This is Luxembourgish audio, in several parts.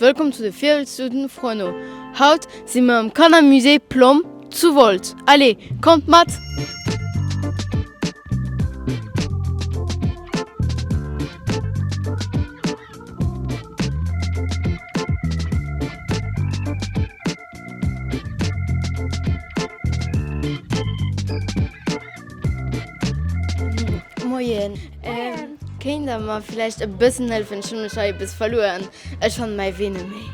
Wëllkomm zu de Virwëtztuten Frono! Haut si mer am Kannermusée Plomb zu Wolz. Allez, kommt mat! Moien. Kéint der mer vläicht e bëssen hëllefen? Ech hunn mech hei e bësse verluer. Ech fanne mäi Wee net méi.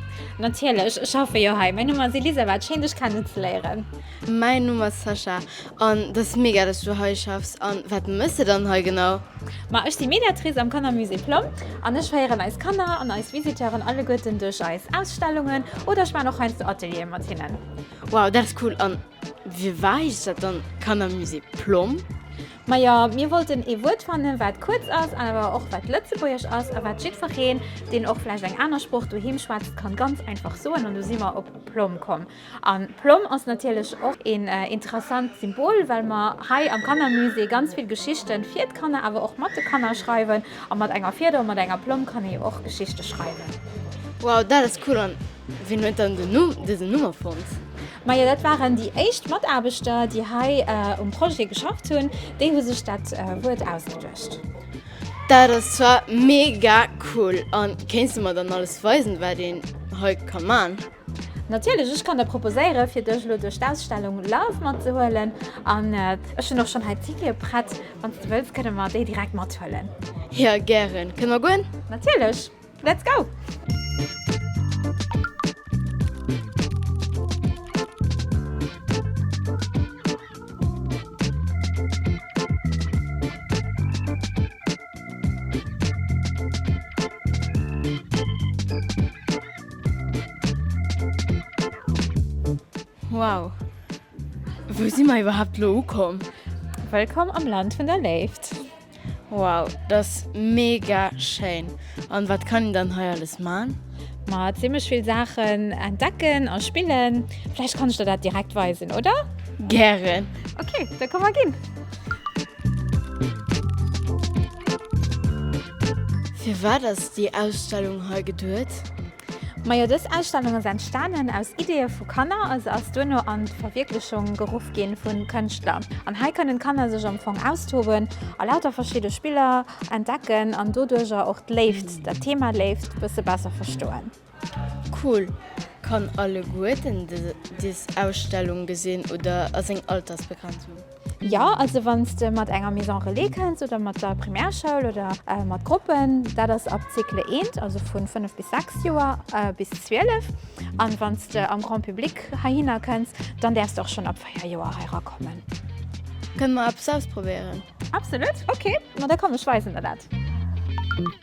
Natierlech, ech schaffe jo hei. Mäin Numm ass Elisabeth. Schéin dech kennenzeléieren. Mäin Numm ass Sascha. An dat ass mega dass du hei schaffs. An wat mëss de dann hei genau? Ma ech si Mediatrice am Kannermusée Plomm an ech féieren eis Kanner an eis Visiteuren alleguerten duerch eis Ausstellungen oder ech maan och heiansdo Atelieren mat hinnen. Wow, dat ass cool! An wie war heescht dat dann Kannermusée Plomm? Majo, mir wollten ee Wuert fannen wat kuerz ass an awer och wat lëtzebuergesch ass a wat jiddwereen deen och vläicht eng aner Sprooch doheem schwätzt kann ganz einfach soen an do si mer op Plomm komm. An d'Plomm ass natierlech och een interessant Symbol, well mer hei am Kannermusée ganz vill Geschichten fir d'Kanner, awer och mat de Kanner schreiwen. A mat enger Fieder a mat enger Plomm kann ee jo och Geschichte schreiwen. Wow, dat ass cool! An wien huet dann dësen Numm erfonnt? Majo, dat waren déi éischt Mataarbechter, déi hei um Projet geschafft hunn. Déi hu sech dat Wuert ausgeduecht. Dat ass zwar mega cool! An kéints de mer dann alles weisen, wat een hei ka man? Natierlech, ech kann der proposéieren, fir dech elo duerch d'Ausstellung Love matzehuelen. An ech hunn och schonn hei Tickete prett. Wann s de wëlls, kënne mer déi direkt mathuelen. Jo, gären. Kënne mer goen? Natierlech. Let's go! Wow, wou si mer iwwerhaapt elo ukomm? Wëllkomm am Land vun der Léift! Wow, dat ass mega schéin! An wat kann een dann hei alles man? Ma zimlech vill Saachen entdecken a spillen. Vläicht kann ech der dat direkt weisen, oder? Gären! Ok, da komm mer ginn! Firwat ass déi Ausstellung hei geduet? Majo dës Ausstellung ass entstanen aus Ideeë vu Kanner a se ass duerno an d'Verwierklechung geruff ginn vu Kënschtler. An hei kënnen d'Kanner sech am Fong austoben a lauter verschidde Spiller entdecken an doduercher och d'Léift, dat Thema Léift, bësse besser verstoen. Cool! Kann alleguerten des Ausstellung gesinn oder ass eng Altersbegrenzung? Jo, also wanns de mat enger Maison Relais kënns oder mat der Primärschoul oder mat Gruppen, dat ass ab Cycle eent, also vun 5 bis 6 Joer bis 12, an wanns de am Grand Public heihinner kënns, dann däerfs de och schon ab 4 Joer hei rakommen. Kënne mer eppes ausprobéieren? Absolut! Ok, ma da komm, ech weisen der dat.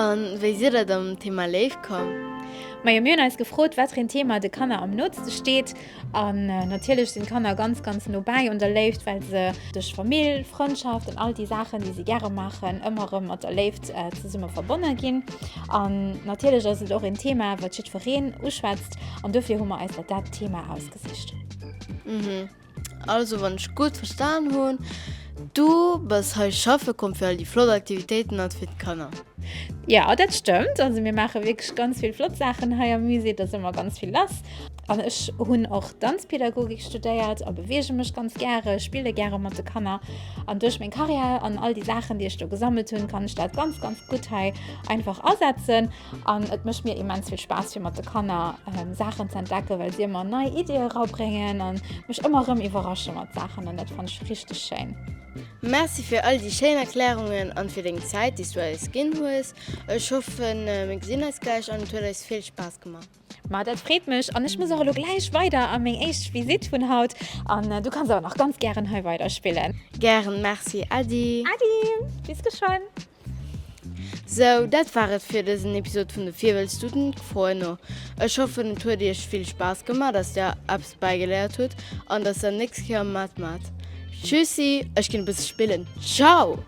A wéi sidd der dann um Thema Léift komm? Majo, mir hunn eis gefrot, wat fir een Thema de Kanner am nootste steet. An natierlech sinn d'Kanner ganz, ganz no bäi un der Léift, well se duerch Famill, Frëndschaft an all déi Saachen, déi si gäre maachen, ëmmer erëm mat der Léift zesumme verbonne ginn. An natierlech ass et och een Thema, wat jiddwereen uschwätzt. An dofir hu mer eis dat dat Thema ausgesicht. Also wann ech gudd verstan hun, du bas hei schaffe komm fir all déi flott Aktivitéiten an fir d'Kanner? Jo, dat stëmmt. Also mir maache wierklech ganz vill flott Saachen hei am Musée. Et ass ëmmer ganz vill lass. An ech hunn och Danzpedagogik studéiert a beweege mech ganz gäre, spille gäre mat de Kanner. An duerch meng Karriär an all déi Saachen, déi ech do gesammelt hunn, kann ech dat ganz, ganz gutt hei einfach asetzen. An et mécht mir immens vill Spaass fir mat de Kanner Saachen ze entdecken, well si ëmmer nei Iddie erabréngen an mech ëmmer erëm iwwerrasche mat Saachen an dat fannen ech richteg schéin. Merci fir all déi schéin Erklärungen an fir deng Zäit déi s du eis ginn hues. Ech hoffen mir gesinn eis gläich an et huet eis vill Spaass gemaach. Ma dat freet mech an ech muss och elo gläich weider a meng éischt Visitt vun haut an du kanns awer nach ganz gären hei weider spillen. Gären, Merci Äddi. Äddi, bis geschwënn. Sou, dat war et fir dësen Episod vun de Virwëlzstuten, Quoe no. Ech hoffen et huet iech vill Spaass gemaach, dass der eppes bäigeléiert hutt an dass der nächst Kéier matmaacht. Tschüssi, ech ginn e bësse spillen. Ciao!